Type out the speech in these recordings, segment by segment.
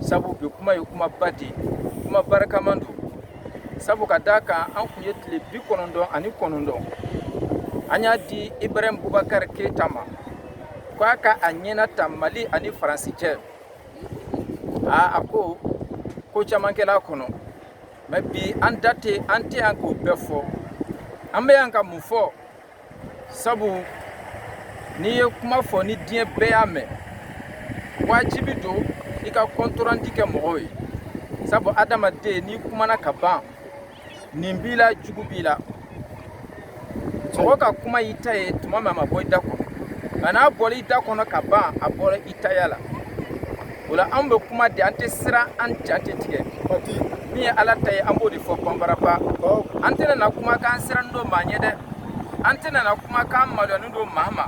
sabu bi kuma ye kumaba de ye kuma barikaman don sabu ka d'a kan an kun ye tile bi kɔnɔntɔn ani kɔnɔntɔn an y'a di ibrahim bubakari keyita ma ko a ka a ɲɛna ta mali ani faransi cɛ a a ko ko caman kɛla a kɔnɔ mɛ bi an da tɛ an tɛ yan k'o bɛɛ fɔ an bɛ yan ka mun fɔ sabu n'i ye kuma fɔ ni diɲɛ bɛɛ y'a mɛn wajibi don i ka kɔntoranti kɛ mɔgɔw ye sabu adamaden n'i kumana ka ban ɲin b'i la jugu b'i la mɔgɔ ka kuma y'i ta ye tuma min a ma bɔ i da kɔnɔ nka n'a bɔra i da kɔnɔ ka ban a bɔra i taya la o la an bɛ kuma de an tɛ siran an ja tɛ tigɛ min ye ala ta ye an b'o de fɔ banbaraba an tɛna na kuma k'an siranni don maa ɲɛ dɛ an tɛna na kuma k'an maloyani don maa ma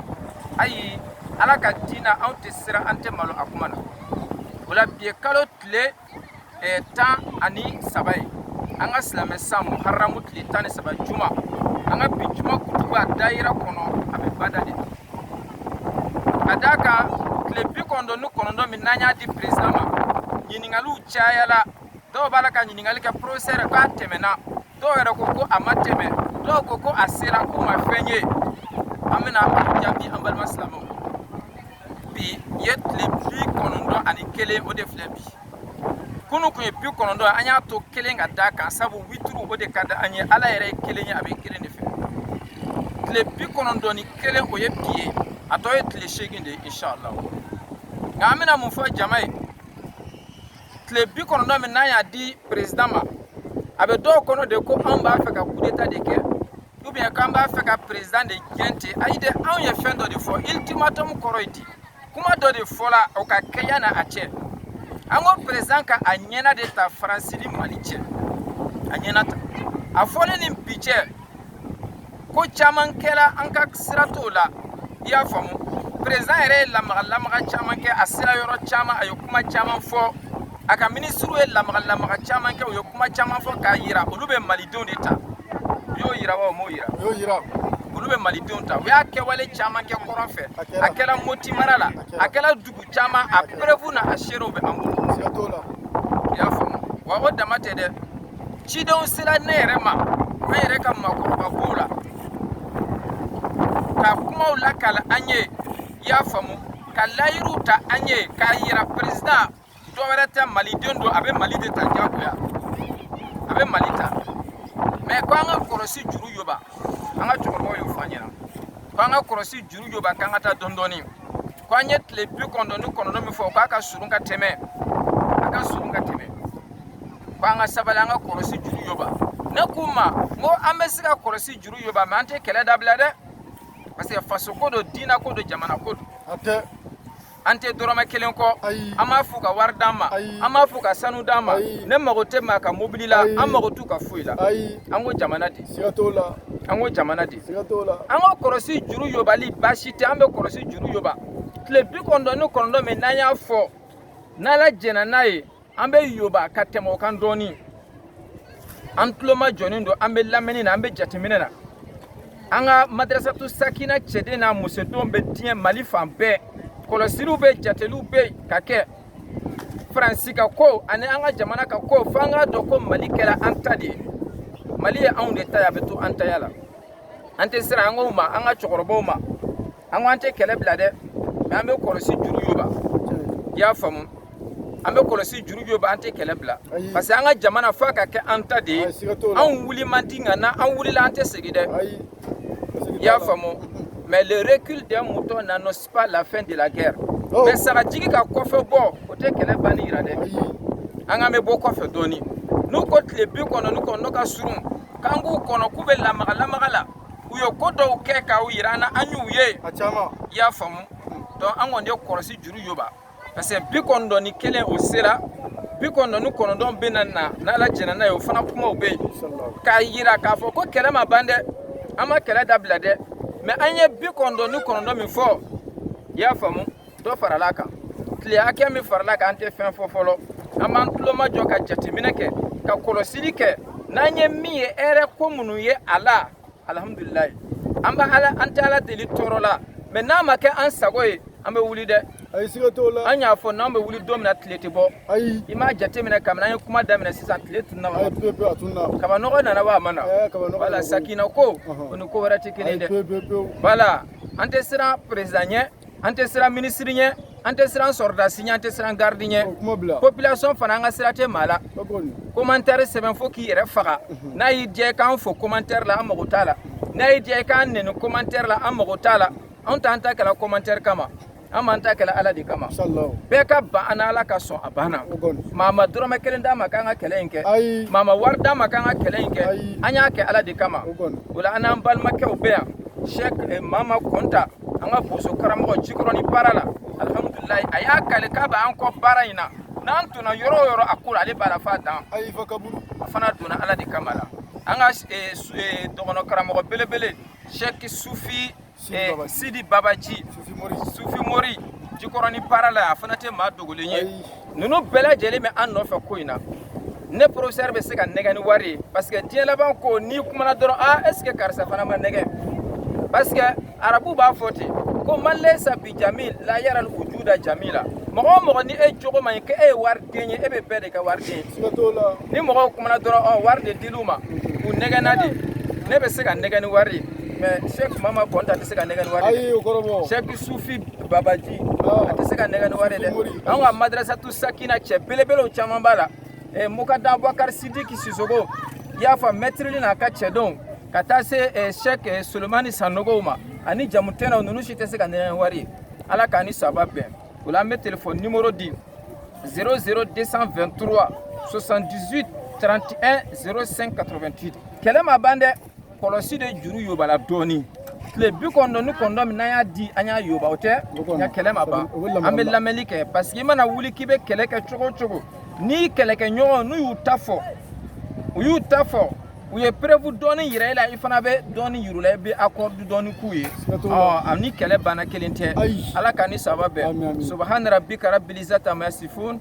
ayi ala ka diina anw tɛ siran an tɛ malo a kuma na o la bi ye kalo tile ɛɛ tan ani saba ye an ka silamɛ san muharamu tile tan ni saba juma an ka bi juma kutuba dayira kɔnɔ a bɛ bada de ka d'a kan tile bi kɔnɔntɔn ni kɔnɔntɔn min n'an y'a di perezidan ma ɲininkaliw cayala dɔw b'a la ka ɲininkali kɛ porofesɛrɛ k'a tɛmɛna dɔw yɛrɛ ko ko a ma tɛmɛ dɔw ko ko a sera k'u ma fɛn ye an bɛna a jaabi an balima silamɛw bi ye tile bi kɔnɔntɔn ani kelen o de filɛ bi kunu kun ye bi kɔnɔntɔn an y'a to kelen ka d'a kan sabu wituru o de ka di an ye ala yɛrɛ ye kelen ye a bɛ kelen de fɛ tile bi kɔnɔntɔn ni kelen o ye bi ye a tɔ ye tile seegin de ye inshallah nka an bɛna mun fɔ jama ye tile bi kɔnɔntɔn min n'an y'a di perezidan ma a bɛ dɔw kɔnɔ de ko anw b'a fɛ ka kudeta de kɛ ubiyɛn k'an b'a fɛ ka perezidan de gɛn ten ayi dɛ anw ye fɛn dɔ de fɔ ulitimatɔmu kɔrɔ ye di kuma dɔ de fɔla o ka kɛ yanni a cɛ an ko perezidan ka a ɲɛna de ta faransi ni mali cɛ a ɲɛna ta a fɔlen ni bi cɛ ko caman kɛra an ka sira t'o la i y'a faamu perezidan yɛrɛ ye lamaga lamaga caman kɛ a sera yɔrɔ caman a ye kuma caman fɔ a ka minisiriw ye lamaga lamaga caman kɛ u ye kuma caman fɔ k'a yira olu bɛ malidenw de ta u y'o yira wa u m'o yira u y'o yira olu bɛ malidenw ta u y'a kɛwale caman kɛ kɔrɔn fɛ a kɛra moti mara la a kɛra dugu caman a perefu n'a seerew bɛ an bolo i y'a faamu wa o dama tɛ dɛ cidenw sera ne yɛrɛ ma an yɛrɛ ka maakɔrɔba b'o la ka kumaw lakala an ye i y'a faamu ka layiruw ta an ye k'a yira perezidan dɔ wɛrɛ tɛ maliden don a bɛ mali de ta diyagoya a bɛ mali ta mɛ ko an ka kɔlɔsi juru yoba an ka cɛkɔrɔbaw y'o fɔ an ɲɛna ko an ka kɔlɔsi juru yoba k'an ka taa dɔɔni dɔɔni ko an ye tile bi kɔnɔntɔn ni kɔnɔntɔn min fɔ k'a ka surun ka tɛmɛ a ka surun ka tɛmɛ ko an ka sabali an ka kɔlɔsi juru yoba ne k'u ma n ko an bɛ se ka kɔlɔsi juru yoba mais an tɛ kɛlɛ dabila dɛ parce que faso ko don diina ko don jamana ko don an tɛ dɔrɔmɛ kelen kɔ an m'a f'u ka wari d'an ma an m'a f'u ka sanu d'an ma ne mago tɛ maa ka mobili la an mago t'u ka foyi la an ko jamana de an ko jamana de an ka kɔlɔsi juru yobali baasi tɛ an bɛ kɔlɔsi juru yoba tile bi kɔnɔntɔn ni kɔnɔntɔn min n'an y'a fɔ n'ala jɛnna n'a ye an bɛ yoba ka tɛmɛ o kan dɔɔnin an tulomajɔnen don an bɛ lamɛnni na an bɛ jateminɛ na an ka madrasatu sakina cɛden n'a musodenw bɛ diɲɛ mali fan bɛɛ kɔlɔsiliw bɛ jateliw bɛ yen ka kɛ faransi ka ko ani an ka jamana ka ko fo an k'a dɔn ko mali kɛra an ta de ye mali ye anw de ta ye a bɛ to an taya la an tɛ siran an k'o ma an ka cɛkɔrɔbaw ma an ko an tɛ kɛlɛ bila dɛ mais an bɛ kɔlɔsi juru yoba i y'a faamu an bɛ kɔlɔsi juru yoba an tɛ kɛlɛ bila parce que an ka jamana f'a ka kɛ an ta de ye anw wuli man di nka n'an wulila an tɛ segin dɛ i y'a faamu mais le recul d'un mouton n'annonce pas la fin de la guerre oh. mais sagajigi ka kɔfɛ bɔ o tɛ kɛlɛ banni yira dɛ an k'an bɛ bɔ kɔfɛ dɔɔni n'u ko tile bi kɔnɔntɔn ni kɔnɔntɔn ka surun k'an k'u kɔnɔ k'u bɛ lamaga lamaga la u ye ko dɔw kɛ k'a yira an na an y'u ye i y'a faamu donc an kɔni ye kɔlɔsi juru yoba parce que bi kɔnɔntɔn ni kelen o sera bi kɔnɔntɔn ni kɔnɔntɔn bɛ na na n'ala jɛnna n'a ye o fana kumaw bɛ yen k'a yira k'a fɔ ko kɛlɛ ma ban dɛ an ma kɛlɛ dabila dɛ mais an ye bi kɔnɔntɔn ni kɔnɔntɔn min fɔ i y'a faamu dɔ farala a kan tile hakɛ min farala kan an tɛ fɛn fɔ fɔlɔ an b'an tulomajɔ ka jateminɛ kɛ ka kɔlɔsili kɛ n'an ye min ye hɛrɛ ko minnu ye a la alhamdulillah an bɛ ala an tɛ ala deli tɔɔrɔ la mais n'a ma kɛ an sago ye an bɛ wuli dɛ ayi siga t'o la an y'a fɔ n'an bɛ wuli don min na tile tɛ bɔ ayi i m'a jateminɛ kabini an ye kuma daminɛ sisan tile tunna wa ayi pewu pewu a tunna kabanɔgɔ nana wa a ma na ɛɛ kabanɔgɔ voilà sakina ko o ni ko wɛrɛ tɛ kelen ye dɛ voilà an tɛ siran perezidan ɲɛ an tɛ siran minisiri ɲɛ an tɛ siran sɔrɔdasi ɲɛ an tɛ siran garidi ɲɛ population fana an ka sira tɛ maa la commentaire sɛbɛn fo k'i yɛrɛ faga mhm. n'a y'i diya i k'an fo commentaire la an mago t'a la n'a y'i diya i k'an nɛni commentaire la an mago t'a la anw t'an ta kɛla commentaire kama an b'an ta kɛla ala de kama bɛɛ ka ban an na ala ka sɔn a banna maa ma dɔrɔmɛ kelen d'an ma k'an ka kɛlɛ in kɛ maa ma wari d'an ma k'an ka kɛlɛ in kɛ an y'a kɛ ala de kama o la an n'an balimakɛw bɛ yan cheikh mama kɔnta an ka boso karamɔgɔ jikɔrɔni para la alihamudulilayi a y'a kali k'a b'an kɔ baara in na n'an donna yɔrɔ o yɔrɔ a ko la ale b'a la f'a dan ayi fa kaburu a fana donna ala de kama la an ka eh, su- eh, dɔgɔnɔ karamɔgɔ belebele sɛki sufi eh, Babaji. sidi babaji sufi mori sufi mori jikɔrɔni para la a fana tɛ maa dogolen ye ayi ninnu bɛɛ lajɛlen bɛ an nɔfɛ ko in na ne professeur bɛ se ka nɛgɛ ni wari ye parce que diɲɛ laban ko n'i kumana dɔrɔn a est ce que karisa fana ma nɛgɛ parce que arabu b'a fɔ ten ko man laysa bi jamil la yaral wujuda jamila mɔgɔ o mɔgɔ ni e jogo man ɲi ko e ye wari den ye e bɛ bɛɛ de kɛ wari den ye ni mɔgɔw kumana dɔrɔn ɔ wari de dil'u ma u nɛgɛnna de ne bɛ se ka nɛgɛ ni wari ye mais sɛki mama kɔnta tɛ se ka nɛgɛ ni wari ye sɛki sufi babaji ah. a tɛ se ka nɛgɛ ni wari ye dɛ anw ka madrasatu sakina cɛ belebelew caman b'a la eh, mukadamu abubakari sidiki sisoko i y'a fɔ mɛtiri li n'a ka cɛdenw ka taa se eh, sɛk eh, solomani sanogow ma ani jamutɛnɛw ninnu si tɛ se ka nɛgɛ ni wari ye ala k'an ni saba bɛn o la an bɛ telefɔni nimoro di 00 223 78 31 05 88 kɛlɛ ma ban dɛ kɔlɔsi de juru yobala dɔɔnin tile bi kɔnɔntɔn ni kɔnɔntɔn min n'an y'a di an y'a yoba o tɛ nka kɛlɛ ma ban an bɛ lamɛnni kɛ parce que i mana wuli k'i bɛ kɛlɛ kɛ cogo o cogo n'i kɛlɛkɛɲɔgɔn n'u y'u ta fɔ u y'u ta fɔ u ye preuve dɔɔni yira i la i fana bɛ dɔɔni yir'u la i bɛ accord dɔɔni k'u ye ɔ a ni kɛlɛ banna kelen tɛ ala k'an ni saba bɛn subahana rabbika rabbil izzati amma yasifun